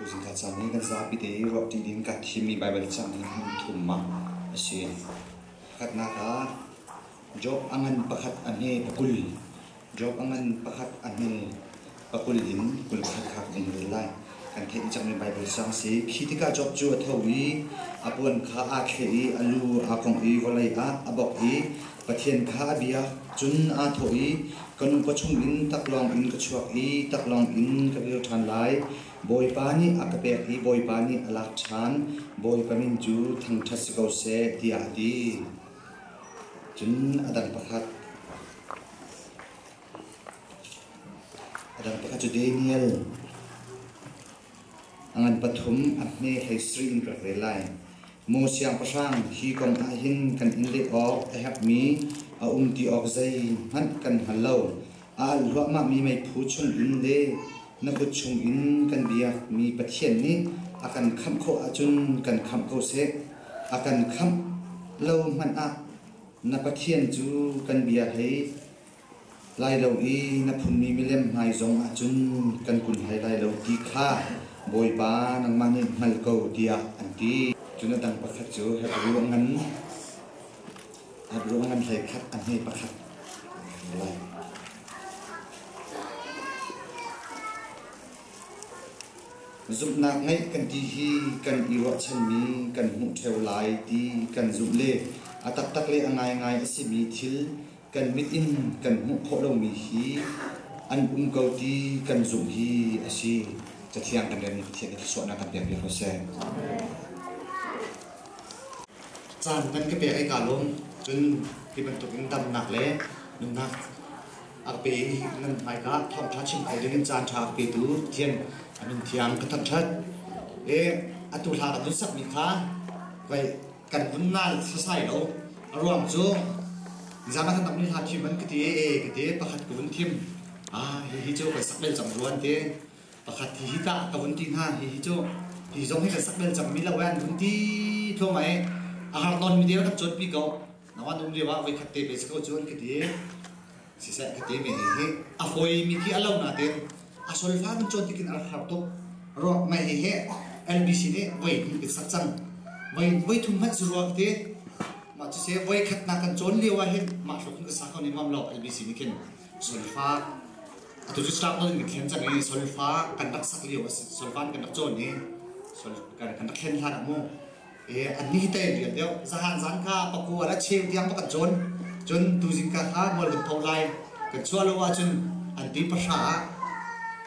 Tuzing ah caan hi kan zapi te i ruahṭi ding kan thimmi Baibal cang hi hmun thum ah a si. Pakhatnak ah Job a ngan pakhat a hne pakul. Job a ngan pakhat a hne pakul in kul khat kha kan in rel lai. Kan theih cangmi Baibal cang a si. Khi tikah Job cu a tho i a puan kha aa thleh i a lu aa kongh i vawlei ah a bok i Pathian kha a bia. Cun aa thawh i, Ka nupa chungin taklawng in ka chuak i taklawng in ka vir ṭhan lai. Bawipa nih a ka pek i Bawipa nih a lak ṭhan, Bawipa min cu thangṭhat si ko seh, tiah a ti. Cun a dang pakhat, a dang pakhat cu Daniel, A ngan pathum a hme hlei sarin kan rel lai. Maw Siangpahrang, hi kong ah hin kan in leh awk a herhmi a um ti awk zeihmanh kan hngal lo. A alh hluahmahmi meiphu chungin le na kut chungin kan biakmi Pathian nih a kan khamh khawh ahcun kan khamh ko seh. A kan khamh lo hmanh ah na Pathian cu kan bia hei lai lo i na phunmi milem hmai zong ah cun kan kun hlei lai lo ti kha Bawipa nangmah nih hngal ko tiah an ti. Cun a dang pakhat cu Hebruangan Hebruangan hlei khat a hme pakhat lai. Zumhnak ngeih kan ti hi kan i ruahchanmi kan hmuh theo lai ti kan zumh le a taktak le a ngaingai a simi thil kan mit in kan hmuh khawh lomi hi an um ko ti kan zumh hi a si cathiang kan rem pathian nih suahnak kan pek ko seh caan kan ka pek ai ka lawm cun hi bantuk in damnak le nunnak a pe nan hmai ka thawngtha chim ko ding caan tha pe tu thian amin thiang ka than that e atu hla ka dun sak mi kha kai kan um nai sasai lo a ruang cu nizan ah kan tam ni hla thim an ka ti e ka ti pakhat ka vun thim ah hi hi cu kan sak bel cang ruan te pakhat hi hi ta ka vun ti hna hi hi cu hi zong hi kan sak bel cang mi lo an vun ti tlo mai a har ton mi deu dak chot pi ko nawan um liawa voi khat te pe ko chun ka ti Siseh ka ti mi hi hi a hoi mi khi a lo na te a solfa in cuan tikin a rak har tuk ruak ngai hi he LBC nih voi hnih bik sak cang voi voi thum hmanh zu ruak te mah cu se voi khat na kan cawn lio ah hin mah hruk hin ka sa kho ni ngam lo LBC nih khin solfa atu cu struggle in kan thlen cang i solfa kan rak sak lio a si solfa in kan rak cawn i sol kan rak hlen hlan ah mu i anni te rian deuh zahan zan kha pakua le cheu tiang kan cawn cun tuzing ka kha mual vun tho lai kan chuah lo ahcun an ti pahra ah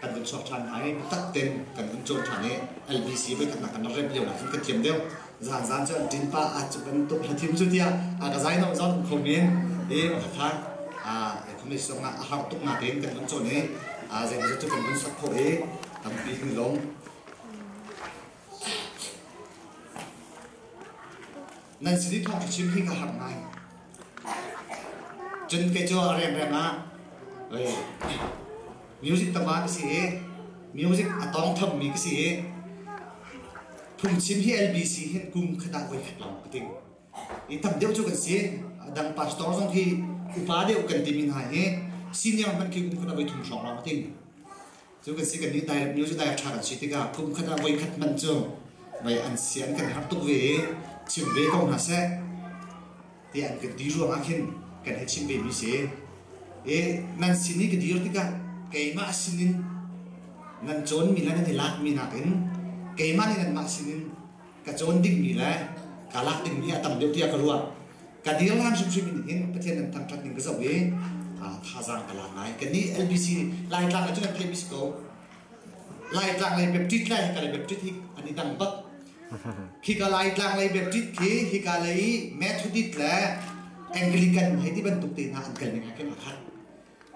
kan vun chuak ṭhan hna i biatak ten kan vun cawn ṭhan i LVC voikhatnak kan rak remh lio nakin kan thiam deuh zan zan cu an ṭin pa a cu bantuk hla thim cu tiah a ka zai no zon um kho men i ka kha a communist zong ah a har tuk na tein kan vun cawn i a zeimaw cu kan vun sak khawh i tampi kan lawm Nan sin i thawng a chim hi ka harh ngai. Cun kei cu a riangreng ah music tama ka si i music a tawng thammi ka si i phungchim hi LBC hi kum khat ah voi khat lawng ka ding. I tam deuh cu kan si. Dang pastor zong hi upa deuh kan timi hna hi senior hmanh khi kum khat a voi thum hrawng lawng a ding. Cu ka si kan nih direct news direct ṭha kan si tikah kum khat ah voi khat man cu voi an si an kan harh tuk ve i chim ve ko hna seh ti an kan ti ruang ah khin kan hei chim ve mi si i nan sin i ka dir tikah keimah sinin nan cawnmi le nan i lakmi nakin keimah nih nanmah sinin ka cawn dingmi le ka lak dingmi a tam deuh tiah ka ruah ka dirham hrimhrim in hin pathian nan thangṭhat ning ka zoh i thazaang ka lak ngai ka ni lbc laitlang ahcun an theih bisi ko laitlang lei baptist le hika lei baptist hi an i dang bak khika laitlang lei baptist khi hika lei methodist le anglican hei ti bantuk te hna an kal ning ah khin a khat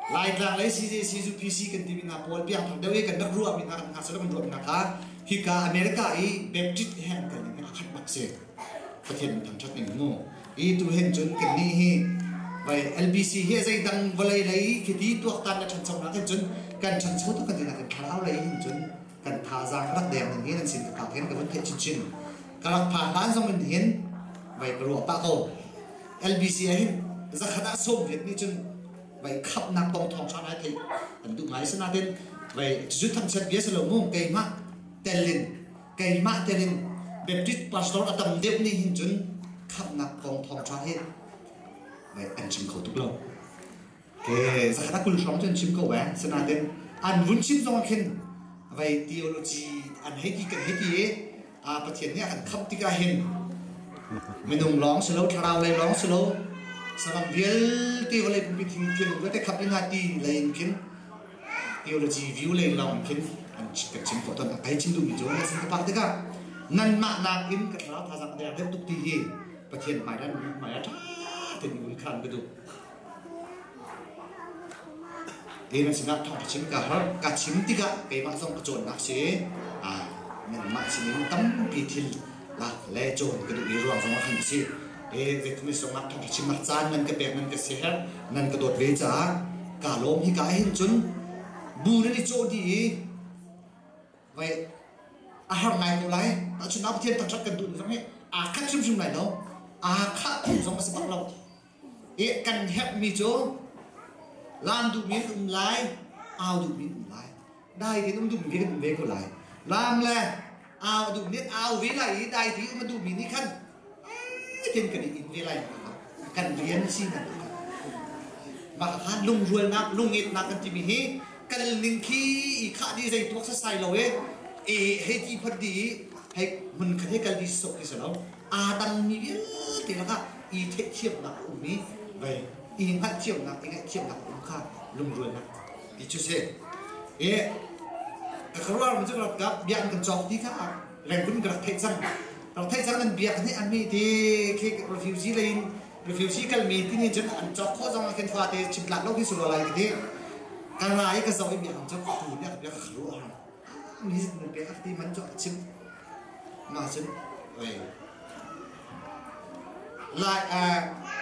Laitlang lei CJC ZUPC kan timi hna pawl biaknak deuh i kan rak ruahmi hna kan hna cu kan ruahmi hna kha hika America i Baptist he an kal ning a khat bak si Pathian in thangthat in mu i tu hen cun kan ni hi vai LBC hi zeidang vawlei lei khi ti tuaktan le thancho hna kan cun kan thancho tu kan dina kan thlarau lei hin cun kan thazaang ka rak deng ning hin an sin ka phak hin ka vun theih chinchin ka rak pha hlan zong in hin vai ka ruah pah ko LBC ah hin zakhat ah sawm viet nih cun vai khapnak tong thong kha ngai theih an duh ngai sanaten vai cu thang chat bia salo mu keima telin keima telin Baptist pastor atam deuh ni hin cun khapnak kong thong kha hi vai an chim kho tuk lo Okay, sakhat kul hrawng cun chim ko eh. Sanaten an vun chim zong khin vai theology an hei ti kan hei ti i a pathian nih an khap tikah hin minung lawng si lo thlarau lei lawng si lo sabang vialte vawlei pumpi thing thilung vialte khap in ati lei in khin theology view lei lawng khin an kan chim ko ton ai chim duhmi cu ne san ka pak tikah nan mah nak in ka thlarau thazang der deuh tuk ti hi pathian hmai dan hmai a tha ten un khan ka duh Kei nan sinah thawng ka chim ka har. Ka chim tikah keimah zong ka cawnnak si nangmah sinin tampi thil le cawn ka duh i ruang zong ah khan a si. E, Vietnamese zong ah thawng ka chim ah caan nan ka pek nan ka siher nan ka dawt ve caah ka lawm hi ka hin cun bu nan i cawh dih i vai a har ngai ko lai tahchun a pathian taktak kan duh zong hi aa khat hrimhrim lai lo aa khah tu zong a si bak lo kan herhmi cu lan duhmi an um lai, au duhmi an um lai, dai tein um duhmi kan um ve ko lai. Lam le au duhmi au ve lai i dai tein um a duhmi nih khan tein kan i in ve lai kan rian si nan mah han lungrualnak lungitnak kan timi hi kan ning khi i khah di zei tuak sasai lo e e hei ti phot di hei mun khat he kal di sok ti sa lo aa dangmi vialte lakah i theihthiamnak a um i vai i hngalhthiamnak i ngaihchiamnak a um kha lungrualnak ti cu si i ka rual mi cu ralkap bia an kan cawk ti kha reng kun ka rak theih cang rak theih cang an bia kan theih an mi ti khi refugee lei in refugee kal mi ti nih cun an cawk khawh zong ah khin fa te chim tlak lo khi su lo lai ka ti ka ra i ka zo i bia an cawk tu bia bia ka rual Mizik arti man cu a chimh. Ma cun lai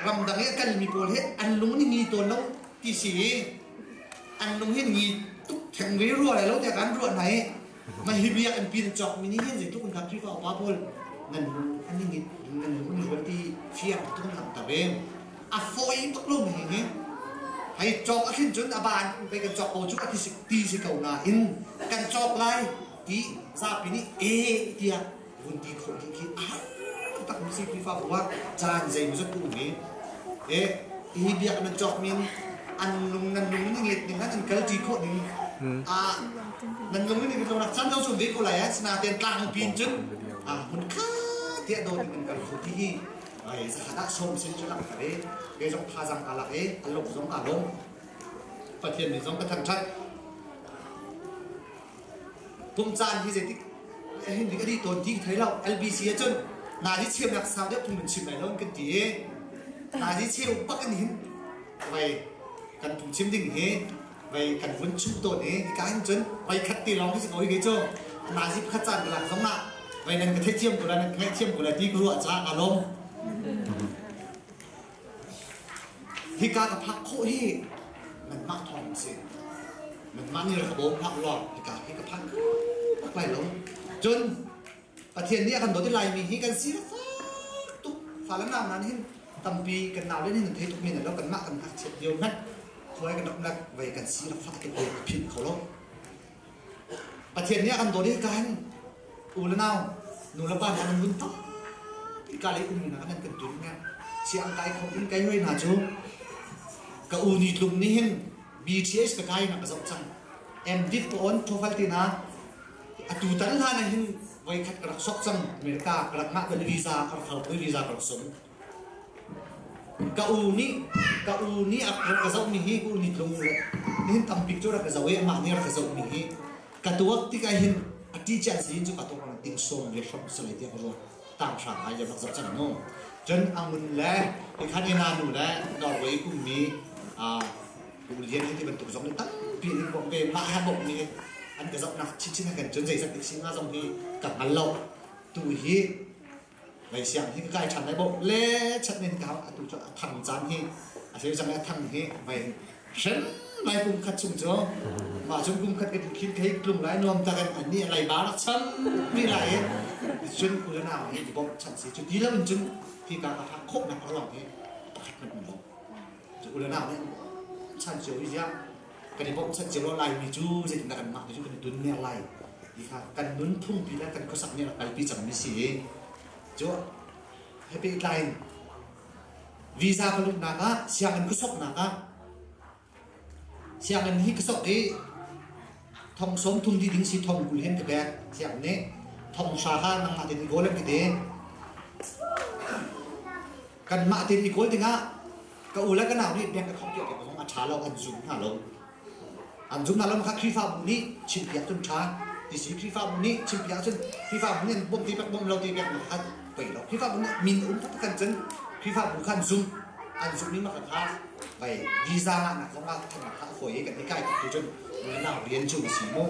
ramdang i kal mi pawl hi an lung ni ngi tawn lo ti si i an lung hi ngi tuk theng ve rua le lo te kan rua nai ma hi bia an pin chok mi ni hin zeitluk an khat fa upa pawl ngan lung an ni ngi ngan lung ni hol ti fiang tung lang ta ve a fawi tuk lomi nih hei cawk a thlen cun a ban pei kan cawk ko cu a ti si ko nain kan cawk lai ti zapi nih e tiah vun ti kho ding khi a har tak mi si Khrihfa bu ah caan zeimawzat um i e hi biak nan cawk min an lung nan lung ning let ning an kal ti khawh ning a nan lung ning lo nak chan zo sun ve ko lai an sina ten tlang pin cun a mun kha tiah do ning kan kho ti hi zakhatah sawm sen cu lang thar i ke zong thazang aa lak i a luk zong aa lawm pathian nih zong ka thangṭhat pum caan hi zeitik hin dik a di tawn ti thei lo LBC ahcun nazi chiamnak sau deuh phung nan chim lai lo kan ti i nazi cheu bak an hin vai kan phung chim ding hi Vei kan vun chim tawn i ika in cun vei khat te lawng hi si ko hi cu nazi pakhat caan ka lak zong ah vei nan ka theithiam ko la nan ka ngaihthiam ko la ti ka ruah caah ka lawm hika ka phak khawh hi nanmah thawng si nanmah nih rak ka bawm phak ulaw hika hi ka phak ka lai lo cun Pathian nih a kan dawt i Laimi hi kan si lengfak tuk. Fa le nau hna nih hin tampi kan nau le nih hin thei tuk men lo kanmah kan ngakchiat lio hmanh thuai kan rak nak vei kan si lengfak ti ka philh kho lo. Pathian nih a kan dawt i hika hin u le nau nu le pa nih an vun tampi ka lei ummi hna an kan tul ne chiang kai kho in kai hui hna cu ka u ni tlum nih hin BTS ka kai na ka zoh cang and did on profile tina Atutan hlan ah hin voikhat ka rak sok cang America ka rak ngah kan visa ka rak hal visa ka rak som ka u nih ka u nih a ka zoh mi hi ka u nih ka u le nihin tampik cu rak ka zoh i amah nih rak ka zoh mi hi ka tuak tikah hin a teacher si cu ka tok ding som ve hram salai tiang ruat tang hram hai rak zoh cang no cun angun le tikhan ina nu le Norway kum mi Lung Lian hi tibantuk zong tampi in kan pe. Mah ha bawmh nih an ka zohnak chinchin ah kan cun zeizat nih singa zong hi ka hngal lo. Tu hi vai siang hi kai than vai bawh le chat nin ka atu cu a thang caan hi a theu cang a thang hi vai hren vai kum khat chung cu ma chung kum khat kan khin kai tlung lai nuam ta kan ani lai ba rak chan pi lai e cun kulan a hi bawm chan si cu ti lo cun ti ka ka ha khop na par long hi pakhat kan lo Cu ulana nih chan cio i ziah kan i bawmhchanh cio lo laimi cu zeitin dah kanmah te cu kan i dun ner lai ti kha kan nunphungpi le kan khuasak nih a kalpi cangmi si i cu he pehtlai in visa ka luhnak ah sianginn ka soknak ah sianginn hi ka sok i thong sawm thum dih ding si thong kul hen ka pek sianginn nih thong hra kha nangmah ten i kawl an ti te Kanmah tein i kawl dingah ka u le ka nau nih bank ka khawmh piakpiak zong a ṭha lo, an zum hna lo. An zum hna lo kha Khrihfabu nih chimpiak cun ṭha ti si. Khrihfabu nih chimpiak ahcun Khrihfabu nih an bawmh ti pek bawmh lo ti pek kha pei lo. Khrihfabu nih min um taktak kan cun Khrihfabu kha an zum. An zummi maka kha pei visa ngahnak zong ah thlennak kha a fawi i kan i kai taktu cun na nau rian cu a si mu.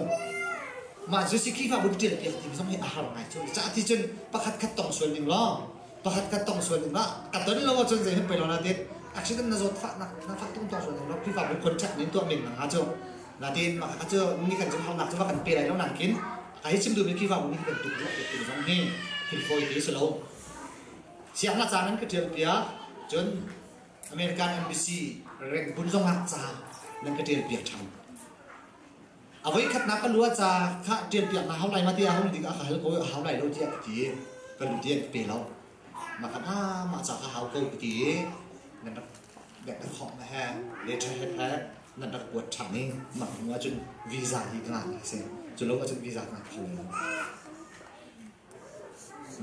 Mah cu si Khrihfabu ṭialpiak ti zong hi a har ngai cu. Zeicah ti cun pakhatkhat tong sual ning law pakhat kan tong sual ning ah a ton lo ahcun zei hen pei lo na tit accident na zawt fah nak na fah tung tong sual ning lo Krifa bu contract ning tuah ning na cu na tin maka ka cu ni kan zum hau nak cu kan pe lai lo nang kin ka hi chim du mi Krifa bu ni kan tuk lo tuk zong hi hil foi te se lo siang la caan an ka tial pia cun American embassy rank bun zong hak ca nan ka tial pia than a voikhatnak ka lua ca kha ṭianpiak na hau lai ma ti a hung dik ah ka hal ko a hau lai lo tiah ka ti ka lu tiang ka pe lo mah kan ah mah ca kha hau ko ka ti i nan rak nek na khawh na he letter head he nan rak kuat ṭhan i mah hnu ahcun visa hi ka ngah a si cu lo ahcun visa ka ngah kho lo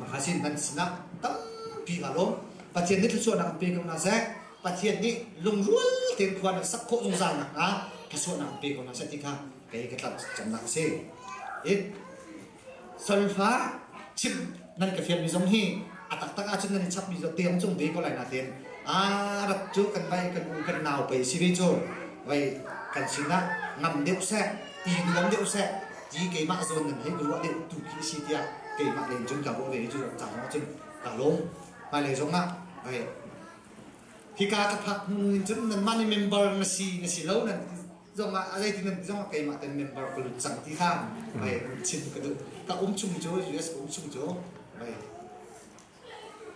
Mahachin nan sinah tampi aa lawm. Pathian nih thluachuahnak an pe ko hna seh. Pathian nih lungrual tein khua nan sak khawh zungzal nakhnga thluachuahnak an pe ko hna seh ti kha kei ka tlak camnak a si. It salfa chim nan ka fianmi zong hi a taktak ahcun nan i chapmi cu tiang cung ve ko lai nain a rat cu kan vai kan u kan nau pei si ve cu. Vai kan sinah ngam deuh seh, i nuam deuh seh, ti keimah zawn nan hei nu a leh tu khi a si tiah keimah lei in cun ka ruah ve i cu caan lawng cun ka lawm hmailei zong ah vai hika ka phak hnu in cun nanmah nih member na si na si lo nan zong ah zei ti nan zong ah keimah ten member ka lut cang ti khan vai chim ka duh ka um chung cu US ka um chung cu vai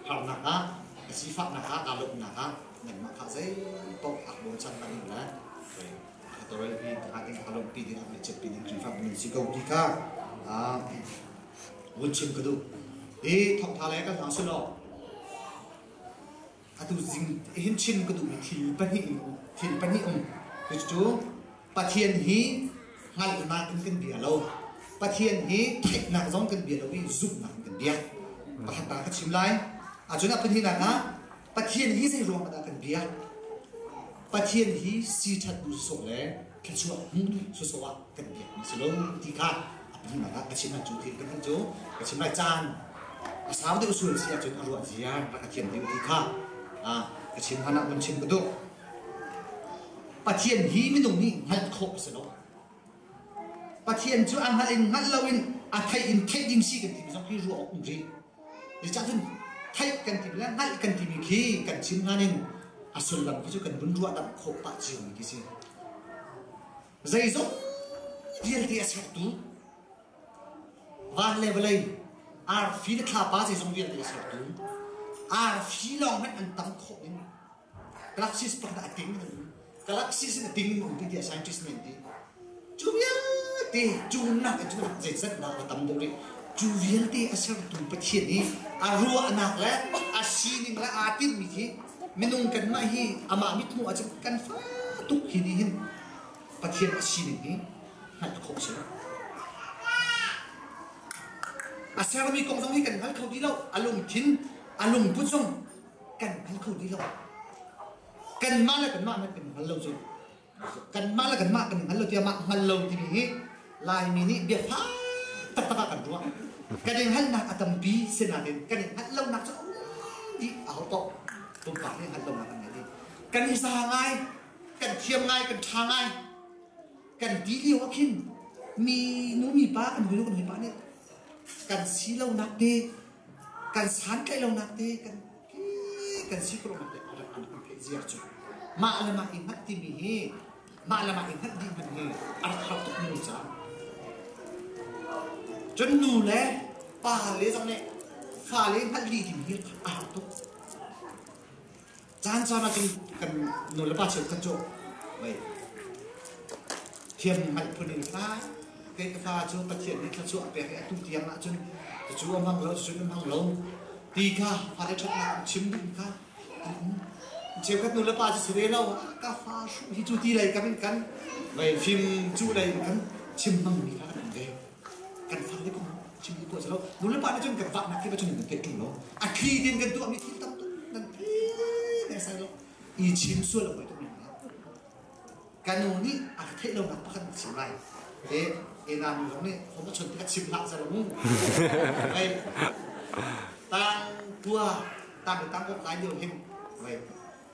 Harnak ah, a sifahnak ah, aa lawmhnak ah nanmah kha zeipaoh aa bochan hmanh in le kha tawrel hi hngak in kha lawmhpi ding ah biachimpi ding Khrihfabu nan si ko ti kha vun chim ka duh. Hi thawngtha le kan hmang sulaw atu zing hin chin ka duhmi thil pahnih in thil pahnih um cucu cu Pathian hi hngalhnak in kan bia lo Pathian hi theihnak zong kan bia lo i zumhnak in kan bia pakhat ta ka chim lai ahcun a pahninak ah Pathian hi zei ruang dah kan bia Pathian hi si thattu sawh le thluachuah hmu sawh ah kan biakmi si lo ti kha a pahnih ah ka chim cu thil kan cu ka chim lai caan a sau deuh sul si ahcun a ruah zia rak a thiam deuh ti kha ka chim hlan ah un chim ka duh Pathian hi minung nih hngalh khawh a si lo Pathian cu a hngalh in hngalh lo in a theih in theih ding si kan timi zong hi ruah awk um rih cun theih kan timi le hngalh kan timi khi kan chim hlan in a sullam hi cu kan vun ruah dam khawh pah cio mi khi si Zeizong vialte a sertu van le vawlei arfi le thlapa zeizong vialte a sertu arfi lawng hmanh an tam khawh ding galaxies pakhat ah a ding in galaxies in a ding in um ti scientist nih an ti cu vialte cu nak in cun zei zat nak a tam deuh rih cu vialte a sertu Pathian i a ruahnak le a sining le aa timmi khi minung kanmah hi amah mithmuh ah cun kan fa tuk hi nih hin Pathian a sining hi hngalh khawh si a sermi kong zong hi kan hngal kho ti lo a lungthin a lungput zong kan hngal kho ti lo kanmah le kanmah hmanh kan hngal lo cu kanmah le kanmah kan hngal lo tiah hngal lo timi hi Laimi nih biafang taktak ah kan ruah kan i hngalhnak a tampi si nain kan i hngalh lonak cu a dih a hau to pumpak nih hngalh lonak an ngei dih kan i sa ngai kan thiam ngai kan ṭha ngai kan ti lio ah khin mi nu mipa kan hawinu kan hawipa nih kan si lonak te kan santlaih lonak te kan hi kan si kruh te kan theih ziar cu mah le mah i hngat timi hi mah le mah i hngat dih hmanh hi a rak har tuk mi ca cun nu le pa le zong nih fa le hngalh dih ding hi a har tuk caan caan ah cun kan nulepa cheu kan cu vei thian hngalh phun in hla kai ka hla cu pathian nih thla chuah pek i atu tiang ah cun cu a hmang lo cun a hmang lo ti kha fare ṭhatnak um chim ding kha cheukhat nu le pa si re lo ka fa hru hi cu ti lei kam in kan vai fim cu lei in kan chim hmang mi kha kan um ve kan fak deuh chim tuah silo nu le pa nih cun kan vaknak khi cun kan peh ṭung lo a thli din kan tuah mi thil tam tuk nan thei ne sai lo i chim sual a poi tuk men kan nu nih a theih lo nak pakhat chim lai e e na nu zong nih hom a chon tikah chim hlah zar mu vai tang tua tang tang kan lai lio him vai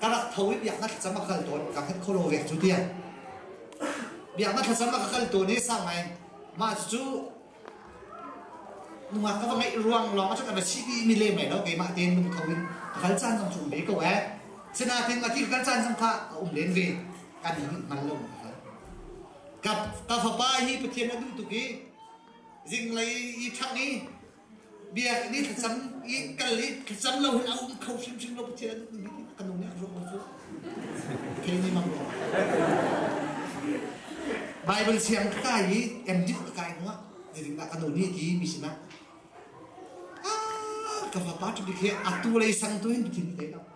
ka rak tho i biak na thlacam a kal tawn ka khat kholo vek cu tiang biak na thlacam a ka kal tawn i sang ngai mah cu nungak ka va ngaih ruang lawng a ka va chi mi le mai lo keimah tein nung tho in ka kal caan zong cu um ve ko eh sinain a ti ka kal caan zong kha a um len ve kan in ngal lo ka kal ka ka fapa hi pathian a duh tuk i zinglei i ṭhang i Biakinn i thlacam i kal i thlacam lo hin a um kho hrimhrim lo. Pathian an duhmi ka nung nih a ruang cu kei nih mang ruang. Baibal siang ka kai i emdip ka kai hnuah zeitin dah ka nu nih ti mi sinah ka fapa cu bik hi atu lei sang tu hin Pathian ka thei lo.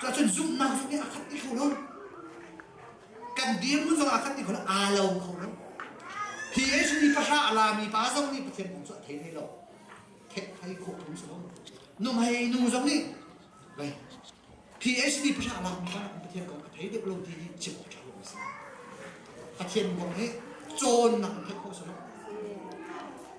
Cuahcun zumhnak zong nih a khat ti kho lo. Kan dirhmun zong a khat ti kho lo. Aa lo kho lo. Hi Yesu nih pahra a lami pa zong nih Pathian kong cu a thei hlei lo. Thethai khawh tung si lo. Nuhmei nu zong nih Vai. Hi Yesu nih pahra a lami pa Pathian kong a thei deuh lo ti hi chim awk ṭha lo a si. Pathian kong hi cawnnak in pek khawh si lo.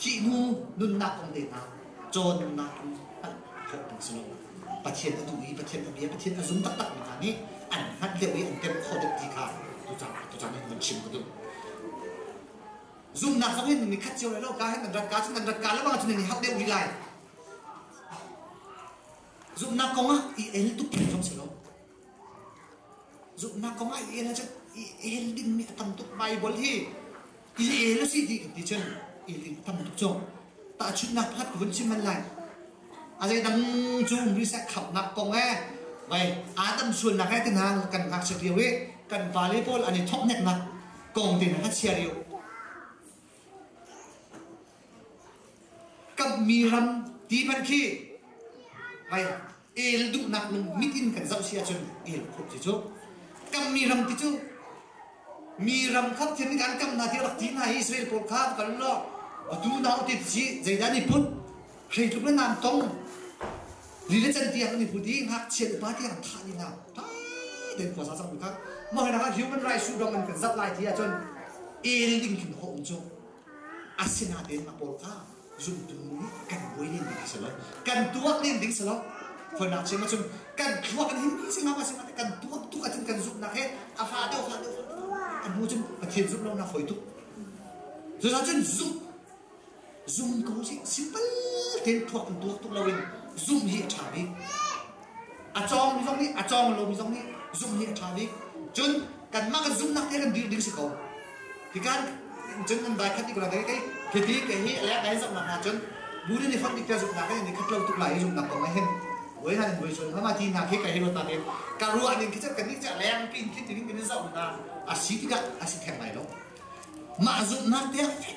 Thihhnu nunnak kong tehna, cawn nunnak kong hngalh hlawhpang si lo. Pathian a duh i Pathian a bia Pathian a zum taktakmi hna nih an hngalh deuh i an temh khawh deuh ti kha tuchan in van chim ka duh. Zumhnak zong in ni khat cio lai lo ka hin nan rat ka cun nan rat ka lawng cun ni hal deuh rih lai. Zumhnak kong ah i el tuk zong si lo. Zumhnak kong ah i el ahcun i el dingmi a tam tuk. Baibal hi i el a si ti ka ti cun i el ding a tam tuk cu. Tahchunhnak pakhat ka vun chim man lai. A zeidang cu misa khamnak kong e vai Adam sualnak e tina kan ngakchiat lio i kan pale pawl an i thokneknak kong te na ka chia lio. Kamhmi ram ti pan khi vai el duhnak lung mit in kan zoh si ahcun el khawh si cu kan mi ram ti cu mi ram kha Pathian nih an kamnak hi a rak ti hna i Israel pawl kha kal law atu na utit si zeidah ni phut hrei tluk le nan tong li le can tiang an i put i ngakchia upa tiang thah ni na tha den khua sa sang kha mah hna kha human rights su dong an kan zat lai ti ahcun el ding tlun a um cu asinain a pawl kha zumtu kan buai len ding a si lo kan tuak len ding si lo hawinak chim ahcun kan thluak an himmi si ngam a si kan tuak tuk ahcun kan zumhnak he a hla deuh hla deuh a hnu cun pathian zumh lonak hoi tuk cucaah cun zumh zumh ko si simple ten thuak in tuak tuk loin zumh hi a ṭha bik A cawngmi zong nih a cawng lomi zong nih zumh hi a ṭha bik. Cun kanmah kan zumhnak hi kan dirh ding si ko. Hikan cun nan vai khat i kurang kei khi kei hi le ka in zumhnak hna cun burin i fonh biktia zumhnak kan in khat lo tuk lai i zumhnak kong ahhin voi han in voi suan hama ti hna khi ka hi ruata nih ka ruah ning khi cun kannih cu leng pin khi tingin kan in zoh hna a si tikah a si theng lai lo. Mah zumhnak tiah fek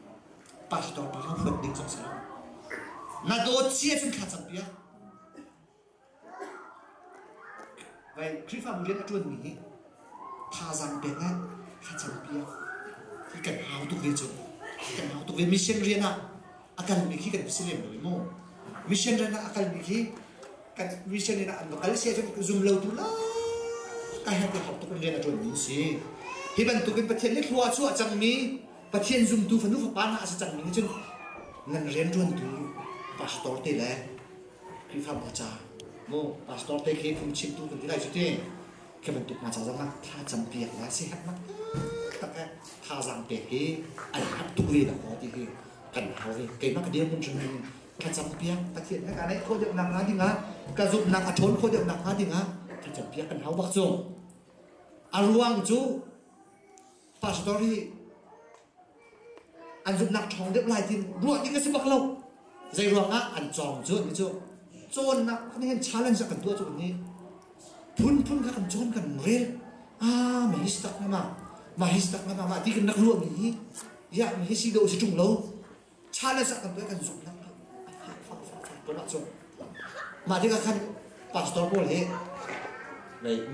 pastor pa kha huat ding zong si lo. Na dawt cia cun kha cang pia. Vai Khrihfabu rian a ṭuan mi hi thazaang pek ngai kha cang pia. Hi kan hau tuk ve cu. Kan hau tuk ve mission rian ah a kal mi khi kan si lem lo mu. Mission rian ah a kal mi khi kan mission rian ah an va kal sia cun zum lo tu la ka her te hop tuk in rian a ṭuan mi si. Hi bantukin Pathian nih thlua cu a cang mi Pathian zumtu fanu fapa hna a si cangmi nih cun nan rianṭuantu pastor te le Khrihfabu ca maw pastor te khi phungchimtu kan ti lai cu ti khi bantuk hna ca zong ah thlacam piak la si hat nak tak eh thazaang pek hi ai hap tuk ve na ko ti hi kan hau hi keimah ka dirpun hrim in thlacam piak pathian he ka neih khawh deuh nak hnga ding ah ka zumhnak a ṭhawn khawh deuh nak hnga ding ah thlacam piak kan hau bak cu a ruang cu pastor hi an zumhnak ṭhawng deuh lai tin ruah ding a si bak lo zei ruangah an cawng cu ni cu cawnnak kan hin challenge kan tuah cu ni phunphun kha kan cawn kan rel ah ma his tak na ma ma his tak na ma ma ti kan rak ruah mi hi ya mi hi si do si ṭung lo Cha le zah tampi kan zumh lo. A fah kho sawhsawh tulah cu. Mah tikah khan pastor pawl hi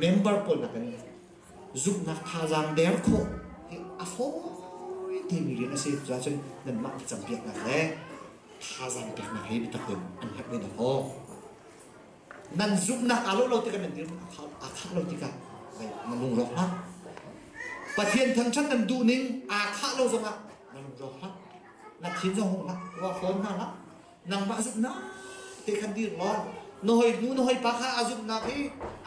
member pawl nakin zumhnak thazaang der khawh hi a fawi timi rian a si cuah cun nanmah campiak nak le thazaang peknak hi biatak in an herh ve na maw? nan zumhnak aa lo lo tikah nan dirhmun aa khah lo tikah na lungrawk hlah Pathian thangṭhat nan duhning aa khah lo zongah na lungrawk hlah na thin zong hung hlah ruah hawm hna hlah nangmah zumhnak te khan dir law na hoi nu na hoi pa kha a zumhnak i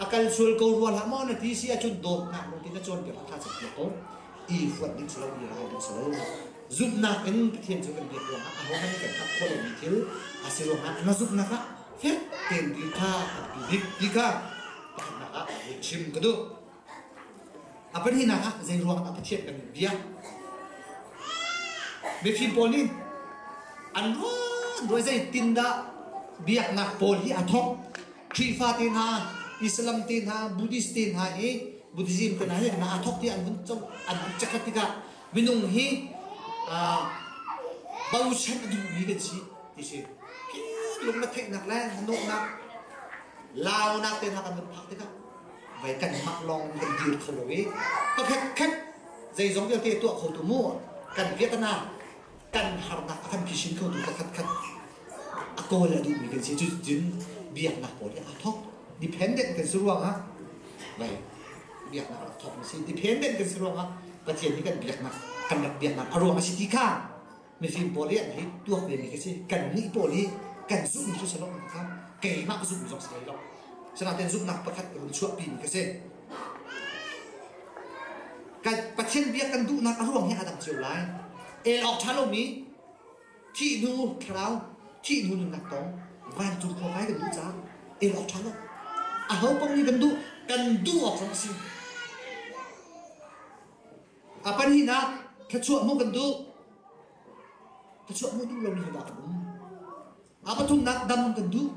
a kal sual ko rua hlah maw na ti si a cun dawp nak lung na cawn piak tha cak ko i huat ding silo i rai ding silo zumhnak in Pathian cu kan biak ruangah a ho nan kan thak kholo mi thil a si ruangah na zumhnak ah fek tein ti kha a rak i hlik ti kha pakhatnak ah voih chim ka duh. A pahnihnak ah zei ruang ah Pathian kan biak. Mifim pawl nih an ruan ruai zei tin dah biaknak pawl hi a thawk. Khrihfa te hna, Islam te hna, Buddhist te hna i Buddhism te hna hi na a thawk ti an vun an an check tikah minung hi bosen a duhmi kan si ti si lung na theihnak le na nuhnak launak te hna kan vun phak tikah vai kan mak lawng kan dir kho lo i pakhat khat zeizong vialte tuah kho tu mu kan vietnam kan harnak a kan phisin khotu pakhatkhat a kawl a duhmi kan si cucun biaknak pawl hi aa thawk dependent kan si ruangah vai biaknak rak thawk a si dependent kan si ruangah pathian hi kan biaknak kan rak biaknak a ruang a si ti kha mifim pawl hi an hi tuak ve mi ka si kan nih pawl hi kan zumh cu salo kha keimah zumh zong si lo sanaten zumhnak pakhat ka vun chuahpi mi ka si Pathian bia kan duhnak a ruang hi a dang cio lai. El awk ṭha lomi thih hnu thlarau, thih hnu nunnak tong van cu khawh kai kan duh caah el awk ṭha lo. A ho paoh nih kan duh kan duh awk zong a si. A pan hin ah thluachuah hmu kan duh. Thluachuah hmu duh lomi hi dah kan um? A pathumnak dam kan duh.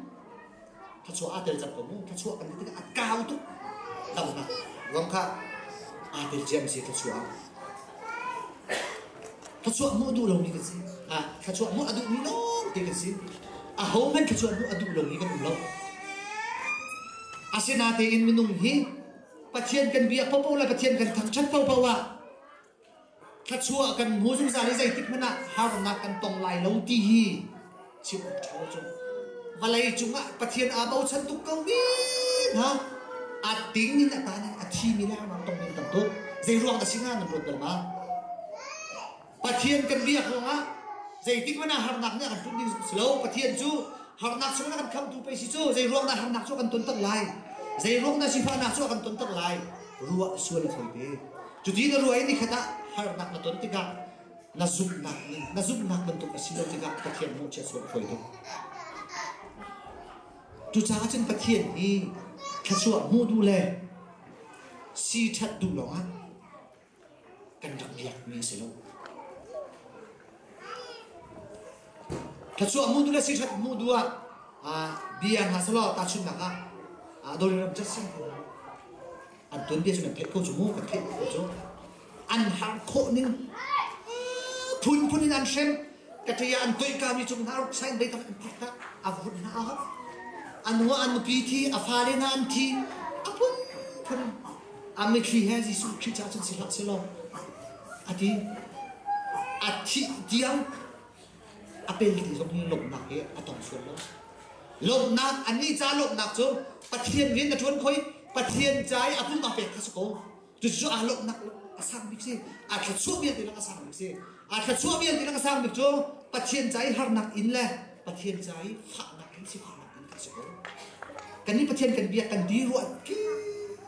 Thluachuah aa tel cang ko mu. Thluachuah kan duh tikah a kau tuk. Dam hna. Ruang kha aa tel ciami si thluachuah. Thluachuah hmuh duh lomi kan si. Ha, thluachuah hmuh a duhmi lawngte kan si. Ahohmanh thluachuah hmuh a duh lomi kan um lo. Asinatein minung hi Pathian kan bia popo le Pathian kan thangṭhat ko poah Thluachuah kan hmu zungzal i zeitikhmanh ah harnak kan tong lai lo ti hi chim awk ṭha lo cu. Vawlei cungah Pathian aa bochan tuk ko men ha! A ting in a taan i a thimi lengmang tong ding kan duh. Zeiruang dah si hnga nan luat bal ma? Pathian kan biak ruangah zeitikhmanh ah harnak nih a kan tlun ding si lo. Pathian cu harnak chungin a kan khamtu pei si cu zei ruang dah harnak cu a kan tontak lai? Zei ruang dah sifahnak cu a kan tontak lai? Ruah sual a fawi te. Cuti na ruah i nikhat ah harnak na ton tikah na zumhnak nih na zumhnak bantuk a si lo tikah Pathian mawhchiat cu a phuai tuk. Cucaah cun Pathian hi thluachuah hmu duh le si ṭhat duh lawngah kan rak biakmi a si lo. Thluachuah hmu duh le si ṭhat hmu duh ah bia hna selaw tahchunhnak ah dawliram cat sang an tuanbia chung an theih kho cu mu ka theih kho cu an harh khawh ning phunphun in an hrem ka ṭe an toihkami cung hna ruk sain deitam an phak a vun hna a an nua an nupi thi a fale na an thi a phunphun a mitthli he Jesuh Khrih ca cun si hlah selaw a ti a thih tiang a peling zong lawmhnak hi a tong sual lo. Lawmhnak, annih ca lawmhnak cu Pathian rian a ṭuan khoi, Pathian ca i a pumpak pek kha si ko. Cucu aa lawmhnak a sang bik si. Aa thluachuah vialte lak a sang bik si. Aa thluachuah vialte lak a sang bik cu Pathian ca i harnak in le Pathian ca i faknak in sifaknak in kan si ko. Kan nih Pathian kan biak kan ti ruah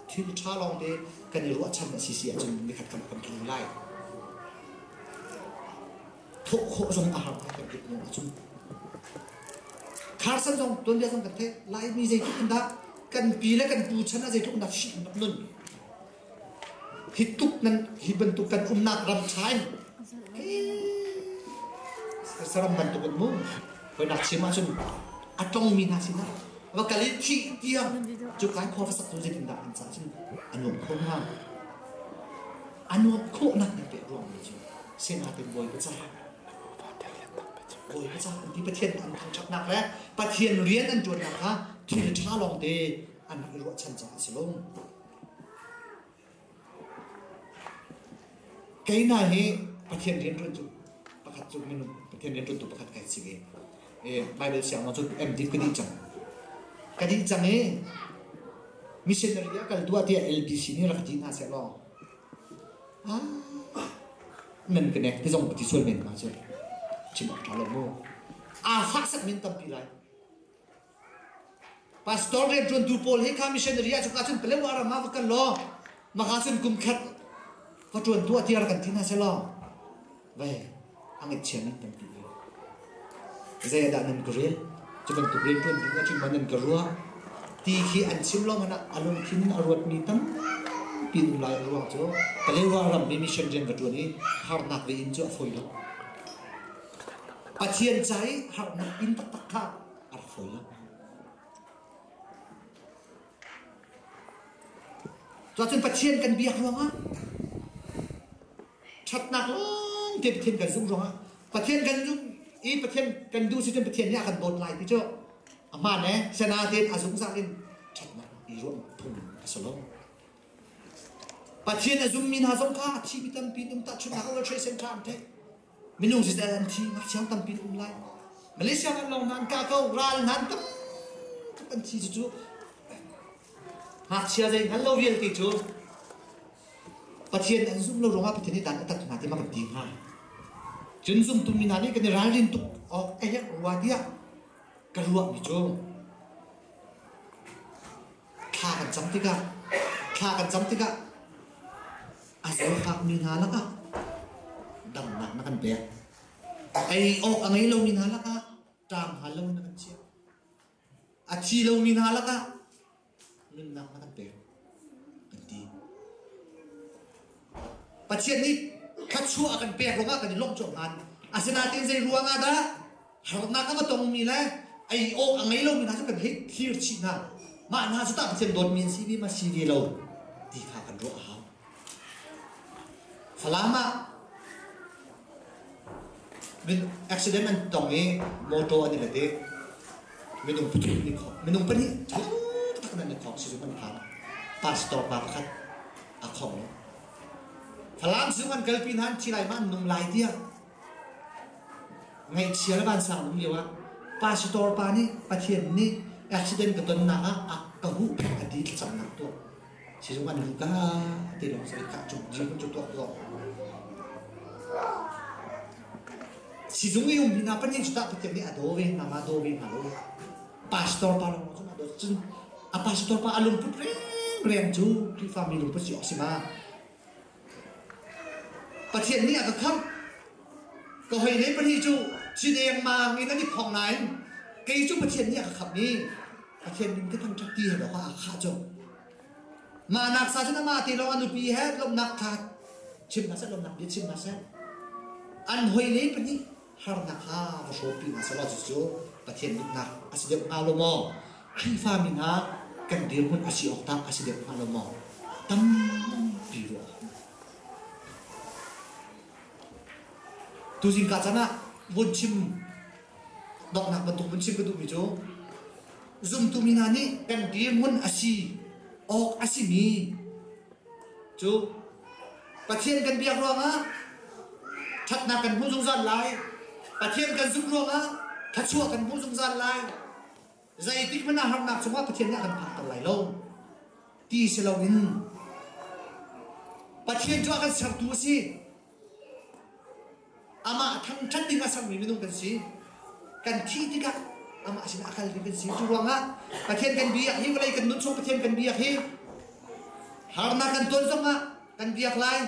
thil ṭha lawngte kan i ruahchan a si si ahcun nikhat kan kan tlu lai. thawh khawh zong a har ngai kan timh lawng a cum. Carson zong tuanbia zong kan theih Laimi zeitluk in dah kan pi le kan pu chan ah zeitluk in dah hrin an rak nun hi tuk nan hi bantuk kan umnak ram ṭha in saram bantuk an mu hoi nak chim ahcun a tongmi hna sinah va kal i khih tiang cu kai khor fasak cu zeitin dah an ca cun a nuam kho hna a nuamh khawhnak in pek ruangmi cu sinaten Bawipa caah Bawipa caah an ti Pathian an thangṭhatnak le Pathian rian an ṭuannak kha thil ṭha lawngte an rak i ruahchan caah a si lo. Kei hna hi Pathian rianṭuan tu pakhat cu minung Pathian rianṭuan tu pakhat ka si ve. Baibal sianginn cun MDiv ka dih cang. Ka dih cang i missionary a kal tuah tiah LBC nih rak ti hna seh law ah nan ka nek ti zong ka ti sual men ma cu chim awk ṭha lo mu. Aa faksak min tampi lai. Pastor rianṭuantu pawl hi kha missionary ah cuka cun Palewa ram ah va kal law maka cun kum khat va ṭuan tuah tiah rak kan ti hna seh law ve a ngaihchia nan kan ti ve. Zeidah nan ka rel? Cu bantuk rianṭuan ding ahcun maw nan ka ruah? Ti khi an chim lawngah na a lungthin in a ruatmi tampi ding lai a ruang cu Kalewa rammi mission rian ka ṭuan i harnak ve in cu a fawi lo. Pathian ca i harnak in taktak kha a rak fawi lo. Cuacun Pathian kan biak ruangah Ṭhatnak lawngte Pathian kan zumh ruangah Pathian kan zumh i Pathian kan duh si cun Pathian nih a kan dawt lai ti cu a hmaan e sana tein a zungzal in ṭhatnak i ruam phung a si lo. Pathian a zummi hna zong kha a thi mi tampi an um tahchunhnak World Trade Center an theih minung siseh an thi ngakchiang tampi an um lai Malaysia ram lawng hna an kah ko ral hna an tam an thi cu cu ngakchia zei hngal lo vialte cu Pathian an zumh lo ruangah Pathian nih dan a tat hna tiah kan ti hnga. Cun zumtumi hna nih kan i ralrin tuk awk ka herh rua tiah ka ruahmi cu thla kan cam tikah thla kan cam tikah a zawtfakmi hna lakah damnak na kan pek ei awk a ngei lomi hna lakah ṭam hal loin na kan chiah a thi lomi hna lakah nunnak a kan pek an ti. Pathian nih thluachuah a kan pek ruangah kan i lawmh cuah ngan. Asinain zei ruangah dah harnak a tongmi le ei awk a ngei lomi hna cu kan hei thlir chih hna. Mah hna cu tah Pathian dawtmi an si ve ma si ve lo ti kha kan ruah a hau. Falam ah accident an tong i mawtaw an i let i minung pahnih thuk tak in an i khawng sizung an phan. Pastor pa pakhat a khawng lo. Falam sizung an kalpi nain thi lai ma an nung lai tiah ngaihchia le vansang an um lio ah pastor pa nih Pathian nih accident ka tonnak ah a ka huh peng a ti thlacamnak tuah. Sizung an luh ka ti lawng soi kah cung chim cu tuak lo. Sizung i um hina panin su tak patia mi a do ve mama do ve ma lo. Pastor pa long cun a do cun a pastor pa a lungput reng reng cu Krihfa mi lungput si oksima. Pathian nih a ka khamh. Ka hoile pahnih cu ci dengmang in an i phong nain kei cu Pathian nih a ka khamh i Pathian min ka thangṭhat ti he lawng ah aa khah tung. Mahnak sa cu amah te lawng a nupi he lawmhnak ṭha chim hna seh, lawmhnak bia chim hna seh. An hoile pahnih harnak kha va hrawhpi hna sehla cucu Pathian mitnak a si deuh hnga lo maw? Khrihfami hna kan dirhmun a si awk tah a si deuh hnga lo maw? Tampi ruah Tuzing ka chan ah vun chim donghnak bantuk vun chim ka duhmi cu zumtumi hna nih kan dirhmun a si awk a simi Cu Pathian kan biak ruangah ṭhatnak kan hmuh zungzal lai. Pathian kan zumh ruangah thluachuah kan hmuh zungzal lai. Zeitik hmanh ah harnak cungah Pathian nih a kan phakter lai lo ti si loin Pathian cu a kan sertu a si. Amah thangṭhat ding a sermi minung kan si. Kan thih tikah amah sinah a kal ding kan si. Cu ruangah Pathian kan biak hi vawlei kan nun chung Pathian kan biak hi harnak kan ton zongah kan biak lai.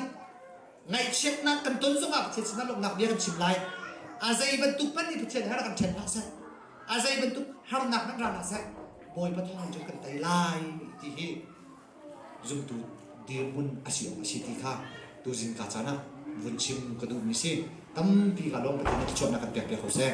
Ngaihchiatnak kan ton zongah Pathian sinah lawmhnak bia kan chim lai. A zei bantuk hmanh nih Pathian harnak kan ṭhen hlah seh. A zei bantuk harnak nan ra hlah seh, Bawipa thawngin cun kan tei lai ti hi zumtu dirhmun a si awk a si ti kha tuzing ka caan ah vun chim ka duhmi si. Tampi ka lawm Pathian nih thluachuahnak kan pek piak ko seh.